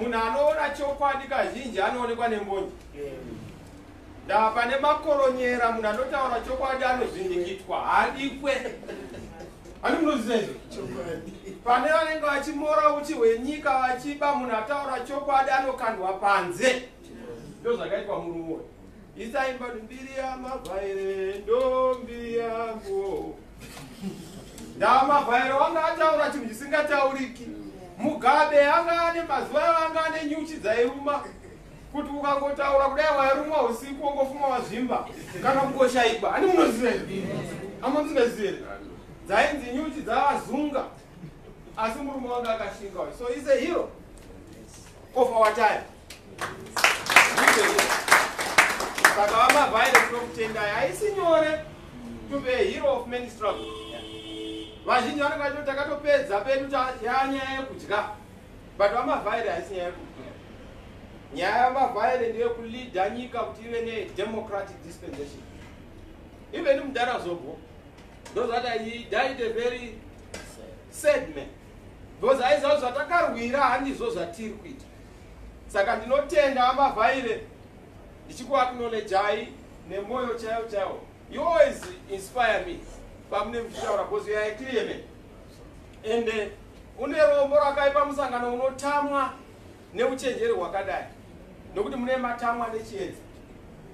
Munhu anoona chokwadi kazhinji anoonekwa nembonje. Ndaa pane makoronyera munhu anotaura chokwadi anozvindikitwa haadikwe. Ani munozviziva izvo? Pane vanenge vachimora uchi hwenyika vachiba munhu ataura chokwadi anokandwa panze. Ndoo zvakaitwa murumo. Isaimba mbiri yamabvaire ndombi yangu. ndamavhairo wanga ataura chinhu chisingatauriki mugabe anga ane mazuva avo anga ane nyuchi dzairuma kuti ukangotaura kudai wairumwa usiku wongofuma wazvimba kana kungoshaikwa hani munoziva amuziveziva here dzainzi nyuchi dzavazunga asi murume wanga akashinga so is a hero of our time saka vamavhaire tinokutendai haisi nyore to be a hero of many struggle vazhinji vanenge vacho takatopedza pedu yanyaya yekudya but vamavhaire haisi nyaya yekudya nyaya yamavhaire ndeyekuleada nyika kuti ive nedemocratic dispensation even mudara zobho ndozvati he died a very sad man Because aiziva zvatakarwira handizvo zvatiri kuita. Saka ndinotenda ambavhaire ndichikuaknolejai nemoyo chaiwo chaiwo. You always inspire me pamune muchitaura because you are a clear man. Ende une rombo rakaipa musangano unotamwa neuchenjeri hwakadai nokuti mune matamwa nechiedza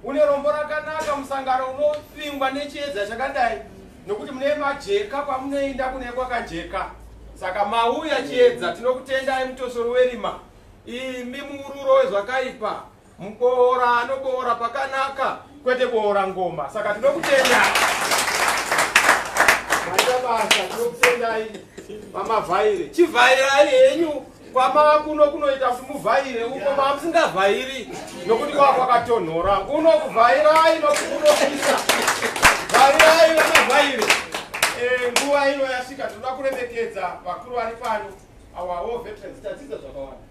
une rombo rakanaka musangano unovingwa nechiedza chakadai nokuti mune majeka kwamunoenda kune kwakajeka saka mauya chiedza tinokutendai mutosori werima imi muururo wezvakaipa Muboora anoboora pakanaka kwete boora ngoma saka tinokutenda maita basa tinokutendai mamavhaire chivhairai henyu kwamakuno kunoita kuti muvhaire uko mamusingavhairi nokuti kwava kwakatonhora kuno kuvhairai nokukunopisa vhairai vamavhaire eh, nguva ino yasvika tinoda kuremekedza vakuru vari pano awawo veterans tadzidza zvakawanda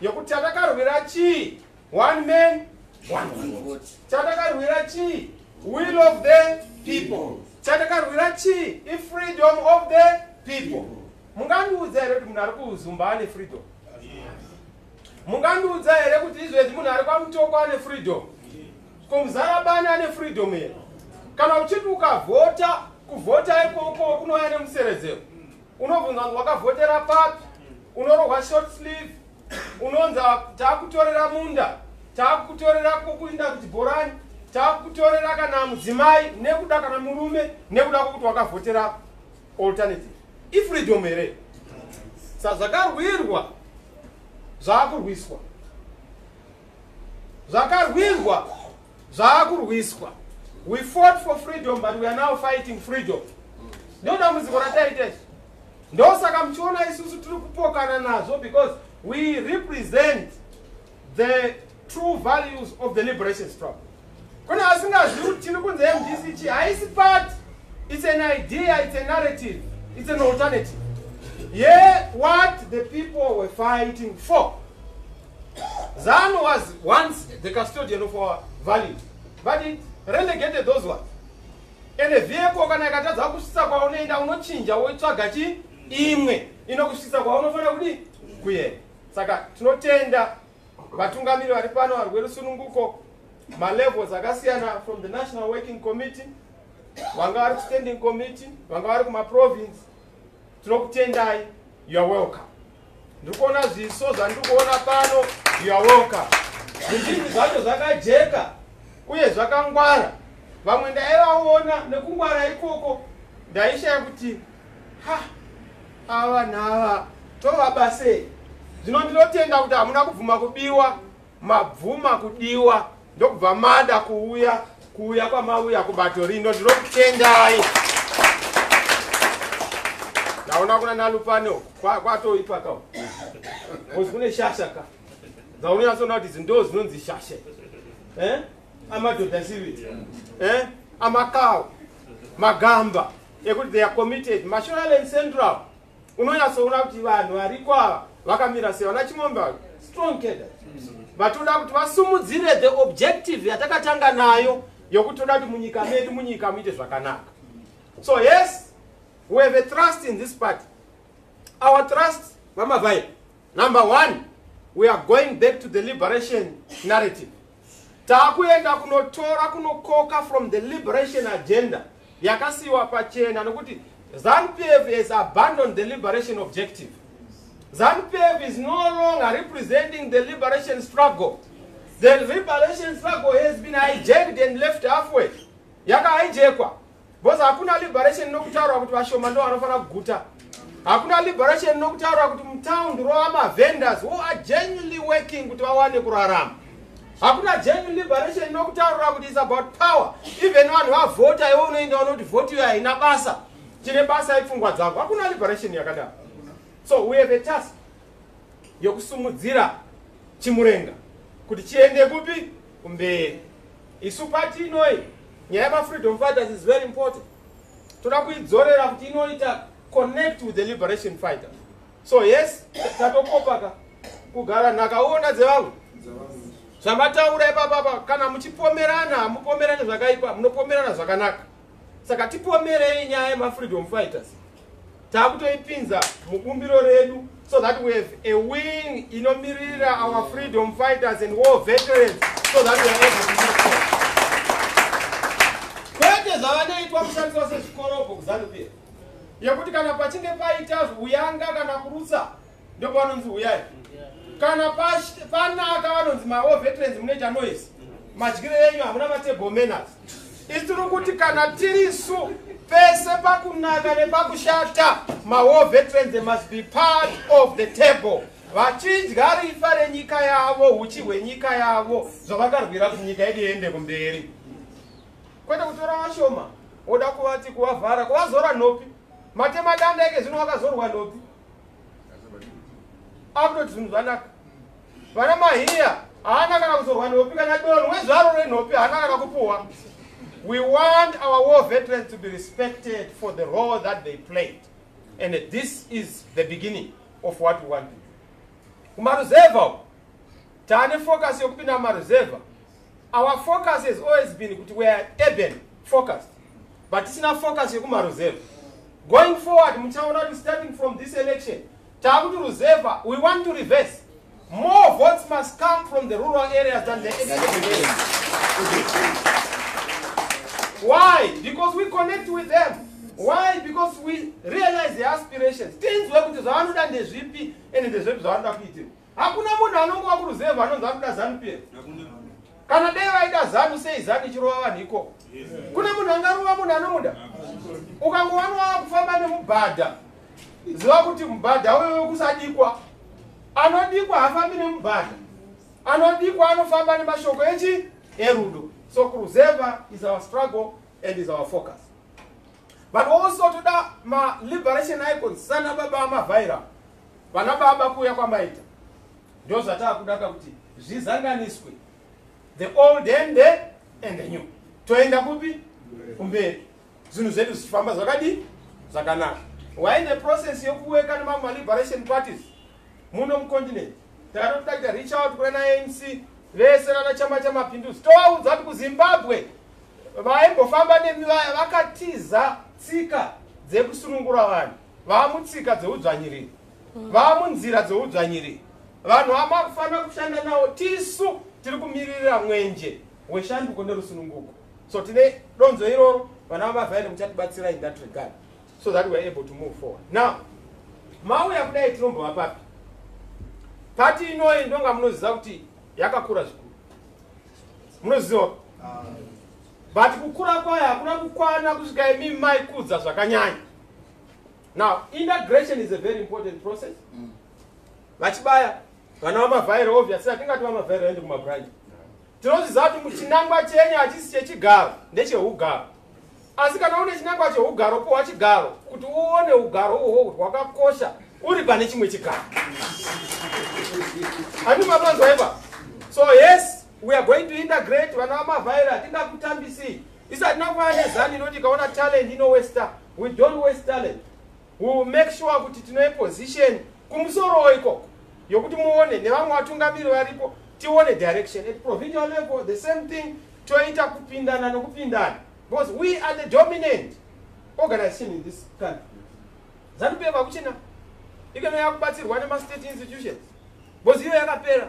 Yokuti chatakarwira chii? One man, one vote. Chatakarwira chii? Will of the people. Chatakarwira chii? I freedom of the people. Mungandiudza here kuti munhu ari kuzumba ane freedom? Mungandiudza here kuti izvezvi munhu ari kwamutoko ane freedom? Kumuzarabani ane freedom here? Kana uchiti ukavhota, kuvhota ikoko kunouya nemuseredzero. unobvunza kuti wakavhotera papi unorohwa short sleeve unonza taakutorera munda taakutorera kokuinda kuchibhorani taakutorera kana mudzimai nekuda kana murume nekuda kwokuti wakavhotera alternative ifreedom here sa zvakarwirwa zvaakurwiswa zvakarwirwa Zvaakurwiswa. We fought for freedom but we are now fighting freedom. Ndo dambudziko rataita izvi. Ndosaka muchiona isusu tiri kupokana nazvo because we represent the true values of the liberation struggle. Kune asingazivi kuti tiri kunze yeMDC chi haisi part. It's an idea, it's a narrative, it's an alternative. Ye yeah, what the people were fighting for. Zanu was once the custodian of our valley, but it relegated those ones. And a vehicle kana ikatadza kusvitsa kwaunoenda unochinja wotsvaga chi imwe inokusvitsa kwaunofanira kudi kuenda. Saka tinotenda vatungamiri vari pano vari kwerusununguko malevels akasiyana from the national working committee vanga vari kustanding committee vanga vari kumaprovince tinokutendai youare welcome ndikuona zviso zvandikuona pano yawoka zvizhinji zvacho zvakajeka uye zvakangwara vamwe ndaivaona nekungwara ikoko ndaishaya kuti ha ava nava tovabasei zvino ndinotenda kuti hamuna kubvuma kubiwa mabvuma kudiwa ndokubva mada kuuya kuuya kwamauya kubato rino ndinokutendai ndaona kuna nalupane kwatoipa ka kozi kune shasha ka dzaunonyatsoona kuti zindo zinonzi shasha eh? amadhodha siviti eh? amakawo magamba ekuti they are committed mashonaland central unonyatsoona kuti vanhu variko ava vakamira sei vana chimombe ava strong keda vatoda kuti vasumudzire the objective yatakatanga nayo yokuti toda kuti munyika medu munyika muite zvakanaka so yes we have a trust in this party our trust vamavai number one we are going back to the liberation narrative Takuenda kunotora kunokoka from the liberation agenda yakasiiwa pachena nokuti ZanuPF has abandoned the liberation objective. ZanuPF is no longer representing the liberation struggle. The liberation struggle has been hijacked and left halfway. Yaka hijackwa. Because hakuna liberation inokutaura kuti vashoma ndo vanofanira kuguta. Hakuna liberation inokutaura kuti mutown rova ma vendors who are genuinely working kuti vawane kurarama. Hakuna genuine liberation inokutaura kuti it's about power. Even vanhu vavhota iwe unoenda unoti vote iyo haina basa. Tine basa ipfungwa dzako. Hakuna liberation yakadaro. So we have a task yokusumudzira chimurenga kuti chiende kupi kumberi isu pati inoi nyaya yemafreedom fighters is very important toda kuidzorera kuti inoita connect with the liberation fighter so yes tatokopaka kugara nhakaona dzevamwe zvamataura ipapapa kana muchipomerana hamupomerani zvakaipa munopomerana zvakanaka saka tipomerei nyaya yemafreedom fighters takutoipinza mubumbiro redu so that we have a wing inomirira our freedom fighters and war veterans so that we are able to move forward kwete zvavanoitwa kushandiswa sezvikorobho kuzanupira yekuti kana pachinge paita uyanga kana kurutsa ndopavanonzi huyai kana panaka vanonzi mavo veterans munoita noise madyiro enyu hamuna matable manners itiri kuti kana tirisu pese pakunaka nepakushata mawar veterans they must be part of the table vachidya rifa renyika yavo uchi hwenyika yavo zvavakarwira kuti nyika yedu iende kumberi kwete kutora vashoma woda kuvati kuvavhara kuvazora nopi matemadanda eke zvino vakazorwa nopi akutoti zvinhu zvanaka vana mahiya haana kana kuzorwa nhopi kana donho wezvaro renhopi haana kana kupuhwa we want our war veterans to be respected for the role that they played and this is the beginning of what we want to do kumaruzevha uko tane focus yokupinda mumaruzevha our focus has always been kuti we are urban focused but tisina focus yekumaruzevha going forward muchaona kuti starting from this election taakuti ruzevha we want to reverse more votes must come from the rural areas than the why because we connect with them why because we realize their aspirations tinzwe kuti zvavanoda ndezvipi ende ndezvepi zvavanoda kuitirwa Hakuna munhu anongova kuruzevha anonzi anoda zanu pf. Kana dai vaida zanu sei zanu ichirova vanhu ikoko. Kune munhu angarova munhu anomuda. Ukangowanova kufamba nemubhadha ziva kuti mubhadha uyo wekusadikwa anodikwa hafambi nemubhadha anodikwa anofamba nemashoko echi erudo so kuruzevha is our struggle and is our focus but also toda ma liberation icons sana baba amavhaira Vana baba kuuya kwamaita ndozvataakuda kuti zvizanganiswe the old and the and the new toenda kupi kumberi zvinhu zvedu zvichifamba zvakadii zvakanaka why the process yokuweka nemamwe maliberation parties muno mucontinent takatoda kuita reach out kuna anc vese vana chama chamapinduzi tovaudza kuti kuzimbabwe vaimbofamba nemi vaya vakatiza tsika dzekusunungura vanhu vaamutsika dzeudzvanyiriri mm. vaamunzira dzeudzvanyiriri vanhu amakufanira kushanda nawo tisu tiri kumiririra mwenje weshanduko nerusununguko so tine donzo iroro vana vamavhaire muchatibatsira in that regard so that weare able to move forward now mauya kudai tinombova papi pati inoyi ndonga munoziva kuti yakakura zvikuru munoziva ah. but kukura kwayo hakuna kukwana kusvika imi maikudza zvakanyanya now integration is a very important process mm. vachibaya vana vamavhairo obvious atingati vamavhairo aende kumabranch tinoziva kuti muchinangwa chenyu hachisi chechigaro ndecheugaro asi kana une chinangwa cheugaro powa chigaro kuti uone ugaro uhwo kuti hwakakosha uri pane chimwe chigaro ani mapanzwa ipa so yes we are going to integrate vana vamavhairo hatingakutambisii Isi hatina kufana nezanu inoti ikaona talent inowesta. We don't waste talent. We will make sure kuti tinoe position kumusorowo ikoko yokuti muone nevamwe vatungamiri varipo tione direction at provincial level the same thing toita kupindana nokupindana because we are the dominant organization in this country zanupf akuchina ikana yakubatsirwa nemastate institutions because iyo yakapera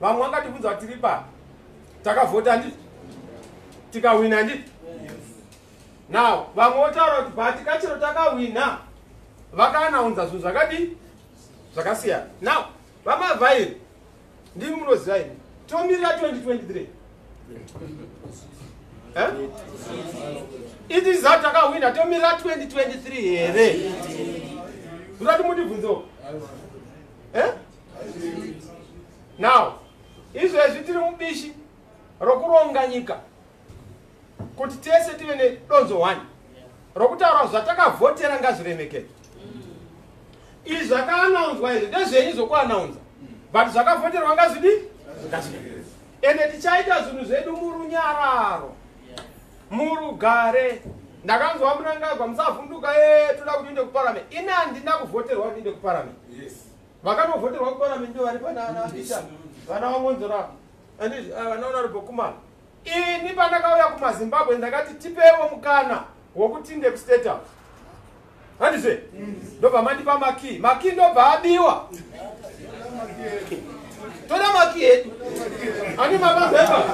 vamwe vangatibvunza kuti tiri papi takavhota ndi tikahwina ndi now vamwe votaura kuti bhati kachero takahwina vakaanaunza zvinhu zvakadii zvakasiyana now vamavhairi ndimi munoziva ini tomirira 2023 eh? it is that takahwina tomirira 2023 here zvirati mundibvunzoo eh? now izvezvi tiri mubishi rokuronga nyika kuti tese tive nedonzo one rokutaura zvatakavhotera ngazviremekedzwa izvi zvakaanaunzwa izvi ndezvenyu zvokuanaunza but zvakavhoterwa ngazvidi ende tichaita zvinhu zvedu murunyararo murugare ndakanzwa munangagwa musavhunduka ye toda kuti inde kuparament ini handina kuvhoterwa kuti inde kuparament Vakanovhoterwa kuparliament ndivo vari pana ana Peter vana vaMwonzora and ah, vana Honorable Kumana. Ini pandakauya kumaZimbabwe ndakati tipewo mukana wokuti ndekustate house handizve ndobva mandipa makii makii ndobva abiwa toda makii edu ani mabazeva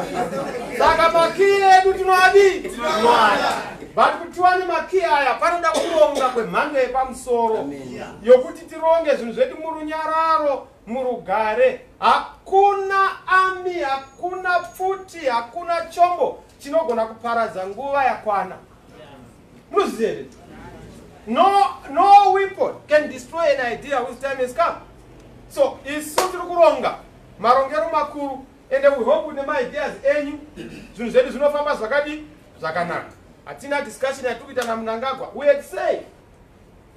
saka makii edu tinoadii tinoada but kuti tiwane makii aya panoda kuronga kwemhando yepamusoro yokuti tironge zvinhu zvedu murunyararo murugare hakuna ami hakuna pfuti hakuna chombo chinogona kuparadza nguva yakwana munozviziva here no, no weapon can destroy an idea whose time has come so isu tiri kuronga marongero makuru ende we hope kuti nemaideas enyu zvinhu zvedu zvinofamba zvakadii zvakanaka hatina discussion yatiri kuita namunangagwa we had say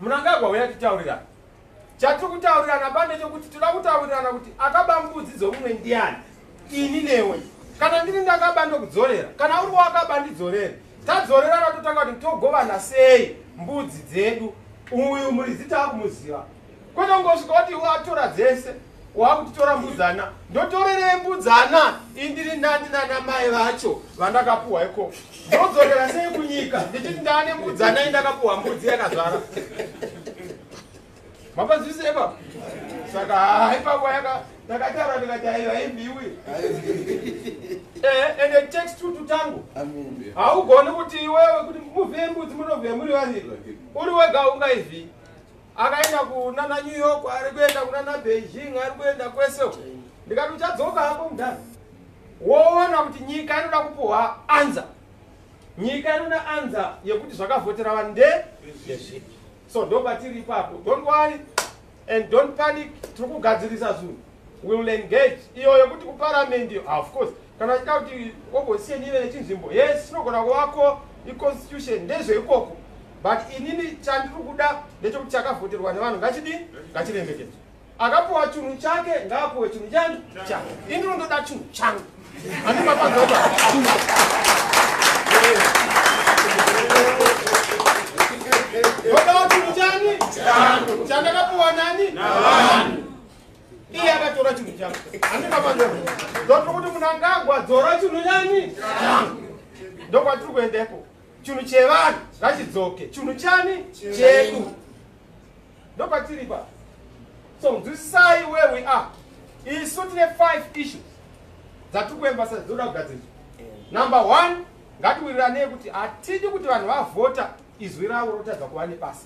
Munangagwa huya titaurirana. Chatiri kutaurirana bande chekuti tinoda kutaurirana kuti akaba mbudzi dzomumwe ndiani ini newe. Kana ndiri ndakaba ndokudzorera kana uri wakaba ndidzorere. Tadzorerana totanga kuti togovana sei mbudzi dzedu. Uyu muridzi takumuziva. Kwete kungosvika kuti watora dzese. wakutora mbudzana ndotorerei mbudzana indiri ndani nana mai vacho vandakapuhwa iko ndodzorera sei kunyika ndichiti ndane mbudzana indakapuhwa mbudzi yakazvara mapanzwise ipapo saka haa ipapo yaka ndakatara ndikati aiva imbiwi eh, ende text tutu tangu haugoni kuti iwewe kuti muvhembudzi munovhe muri vaviri uri wega ungaivhii akaenda kunana new york ari kuenda kunana beijing ari kuenda kwese ndikati uchadzoka hako mudhani woona kuti nyika inoda kupuhwa anza nyika inoda anza yekuti zvakavhotera vanhu nde so ndopatiri ipapo don't worry and don't panic tiri kugadzirisa zvinhu will engage iyo yokuti kuparliament iyo ah, of course kana achida kuti opposition ive nechinzvimbo yes chinogona kuvako iconstitution ndezveikoko but inini chandiri kuda ndechokuti chakavhoterwa nevanhu ngachidii ngachiremekedzwa akapuwa chinhu chake ngaapuwe chinhu chani chake inini ndoda chinhu changu andimapazoa ndodawo chinhu chani chandakapuwa nani navanhu iye akatora chinhu changu handina mari ndotiri kuti munangagwa dzora chinhu yani ndokwatiri kuendepo chinhu chevanhu ngachidzoke chinhu chani chedu ndokwatiri pa so nzwisisai where we are isu tine five issues dzatiri kuemba sa dzinoda kugadzirisa number one ngatiwiriranei kuti hatidi kuti vanhu vavhota izwi ravo rotadza kuva nebasa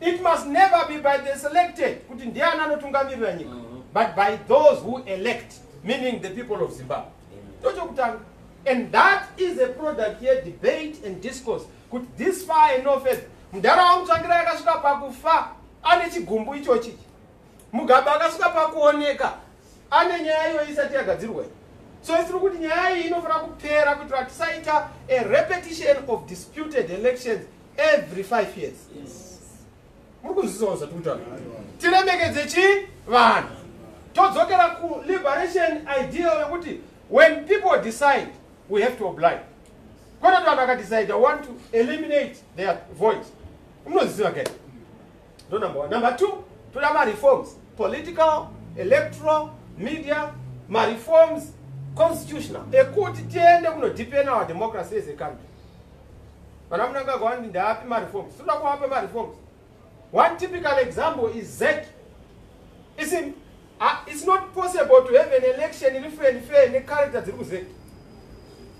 It must never be by the selected kuti ndiani anotungamirira nyika mm-hmm. but by those who elect meaning the people of Zimbabwe. Tochokutanga. And that is a product here debate and discourse kuti this far and no further. Mdara wangu tsvangira yakasvika pakufa ane chigumbu ichochi. Mugabe akasvika pakuoneka ane nyaya iyo isati yagadzirwa iyi. So isiri kuti nyaya iyi inofanira kupera kuitira tisaita a repetition of disputed elections every five years muri kunzwisisa zvati kutaura tiremekedze chi vanhu todzokera kuliberation ideal yekuti when people decide we have to oblige kwete kuti vanhu vakadecide i want to eliminate their voice unoziva ke ndo number one number two toda mareforms political electoral media mareforms constitutional ekuti tiende kunodepend our democracy as a country Vana munangagwa vandi ndaapi mareforms. Tinoda kuvapa mareforms. One typical example is ZEC. It's, in, uh, it's not possible to have an election in free and fair necharacter dziri kuZEC.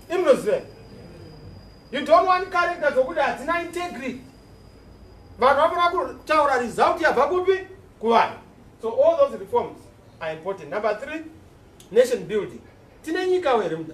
Imnoziva. You don't want character dzokuti hadzina integrity. Vanhu vanoda kutaura result yabva kupi kuvanhu. So all those reforms are important. Number three, nation building. Tine nyika here muda?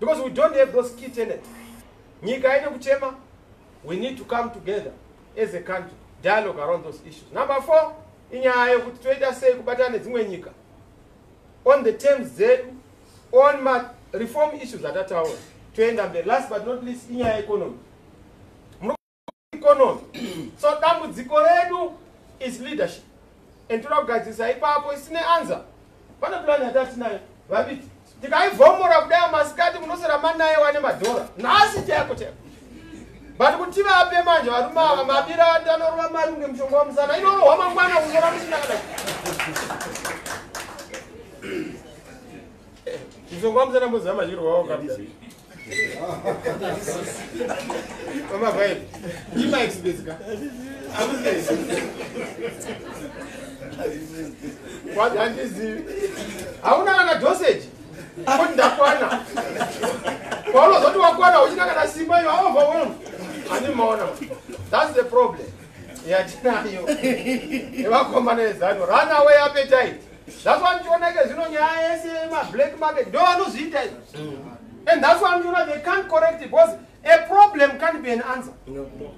because we don't have those key tenants nyika haine kuchema we need to come together as a country dialogue around those issues number four inyaya yekuti toita sei kubatana nedzimwe nyika on the terms dzedu on ma reform issues atataura toenda mberi last but not least inyaya yeconomy economy so dambudziko redu is leadership and toda kugadzirisa ipapo isine anza pane pulani yatatinayo vaviti tikaivhomora kudai masikati munosera manaye wane madhora nhasi chayako chayako but kuti vape manje varume ava mabira ati anorova mari kunge mushonga wamusana inorohwa mangwana kuzora musinakada mushonga wamusana mboziva machirwa wao Mama Vine, you might speak. What and is it? Hauna kana dosage? Kuti ndakwana. Paunozoti wakwana uchina kana simba you are overwhelmed. Ani maona. That's the problem. Yatinayo. Evakomana ezano. Run away appetite. That's why ndichiona ke zvino nyaya yese yema black market ndo vanozviita izvo. Mm. And that's why ndichiona they can't correct it because a problem can't be an answer.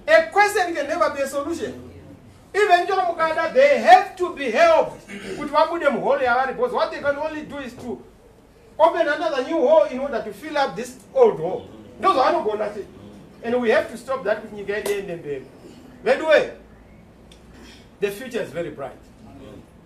A question can never be a solution. Even ndichiona mukada they have to be helped kuti vabude muhole yavari because what they can only do is to open another new hole in order to fill up this old hole. Ndo zvavanogona chete. And we have to stop that kuti nyika yedu iende mberi. Veduwe, the future is very bright.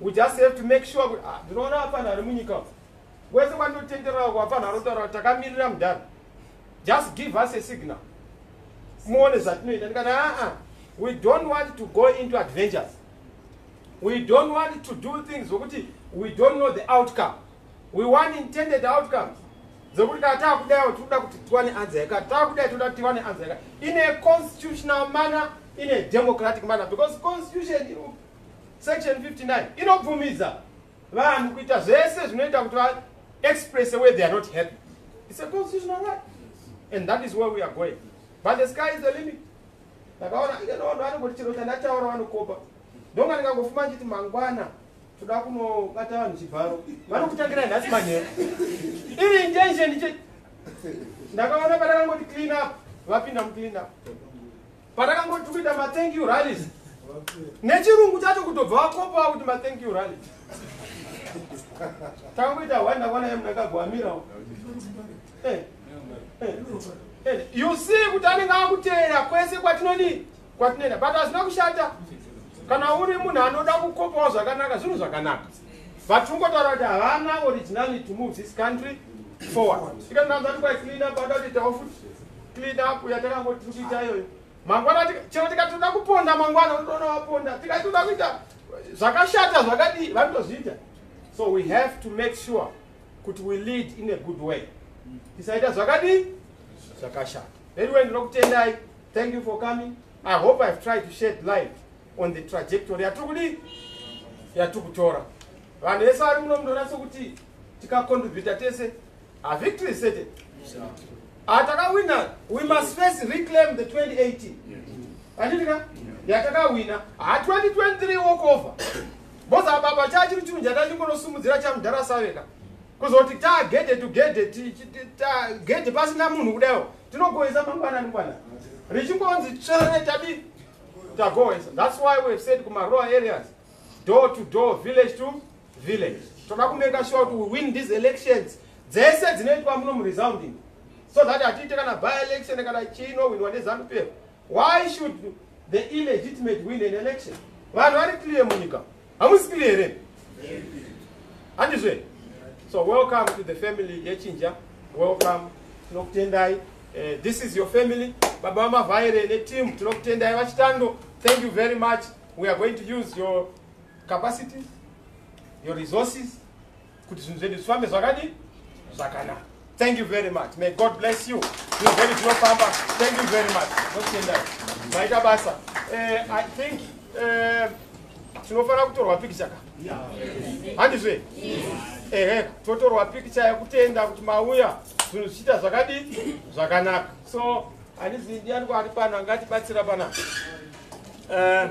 We just have to make sure kuti ah, ndinoona hapana ari munyika uko. Wese kwandinotenderera uko hapana anotaura takamirira mudhara. Just give us a signal. Muone zvatinoita ndikati aa ah, ah, we don't want to go into adventures. We don't want to do things zvokuti we don't know the outcome. We want intended outcomes. Zvokuti kana taakudaiwo tinoda kuti tiwane anza yaka taakudai tinoda kuti tiwane anza yaka in a constitutional manner in a democratic manner because constitution Section 59 inobvumidza vanhu kuita zvese zvinoita kuti va express the way they are not happy. It's a constitutional right. And that is where we are going. But the sky is the limit. Ndakaona ino vanhu vanongoti chero chandataura vanokopa. Ndonga ndikangofuma ndichiti mangwana toda kunobata vanhu chibharo. Vanokutangira nhasi manheru. Iri intention ndiche ndakaona padakangoti clean up vapinda muclean up. Patakangoti kuita ma thank you rallies. Nechirungu chacho kutobva wakopa kuti ma thank you rally. Takamboita one ndakaona yemu ndakagwamira. Eh. Eh. Eh. You see kuti anenge akuteera kwese kwatinodii kwatinoenda but hazvina kushata kana uri munhu anoda kukopawo zvakanaka zvinhu zvakanaka but ungotaura kuti havana originality to move this country forward ikananzati kwaiclean up ada kuti tawo futi Tidaku yatakangoti tichiita iyoyo. Mangwana chero tikatoda kuponda mangwana unoona waponda. Tikatoda kuita zvakashata zvakadii vanotozviita. So we have to make sure kuti we lead in a good way. Tisaita zvakadii zvakashata. Anyway ndinokutendai. Thank you for coming. I hope I've tried to shed light on the trajectory yatiri kudii yatiri kutora vanhu vese vari muno munonatso kuti tikacontribute tese A victory is certain. Atakawina, ah, we must first reclaim the 2018. Anditika? Yatakawina. Ha 2023 walk over. Boza baba chachi kuti mjata chiko no sumudzira cha mdara saveka. Kuzoti ta gede to gede ti ta gede pasi na munhu kudayo. Tinogoeza mangwana ni kwana. Richingonzi tshere tabi. Tagoeza. That's why we have said kuma rural areas. Door to door, village to village toda kumeka sure kuti we win these elections dzese dzinoitwa muno muresounding so that hatiite kana by election kana chino winwa nezanupero why should the illegitimate win an election vanhu vari clear munyika hamusi clear here handizve so welcome to the family yechinja welcome tinokutendai uh, this is your family baba vamavhaire neteam tinokutendai vachitando thank you very much we are going to use your capacities your resources kuti zvinhu zvedu zvifambe zvakadii zvakanaka thank you very much may god bless you zvinhu zvedu zvinofamba thank you very much nokutendai maita basa eh, i think eh, tinofanira kutorwa pikicha ka handizve ehe totorwa pikicha yekutenda kuti mauya zvinhu zvichiita zvakadii zvakanaka so handizi ndiani kwaari pano angatibatsira panapa eh,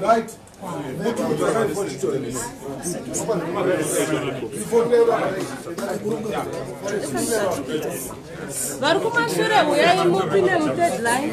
Right. vari kumashure huyai mupi nemudeadline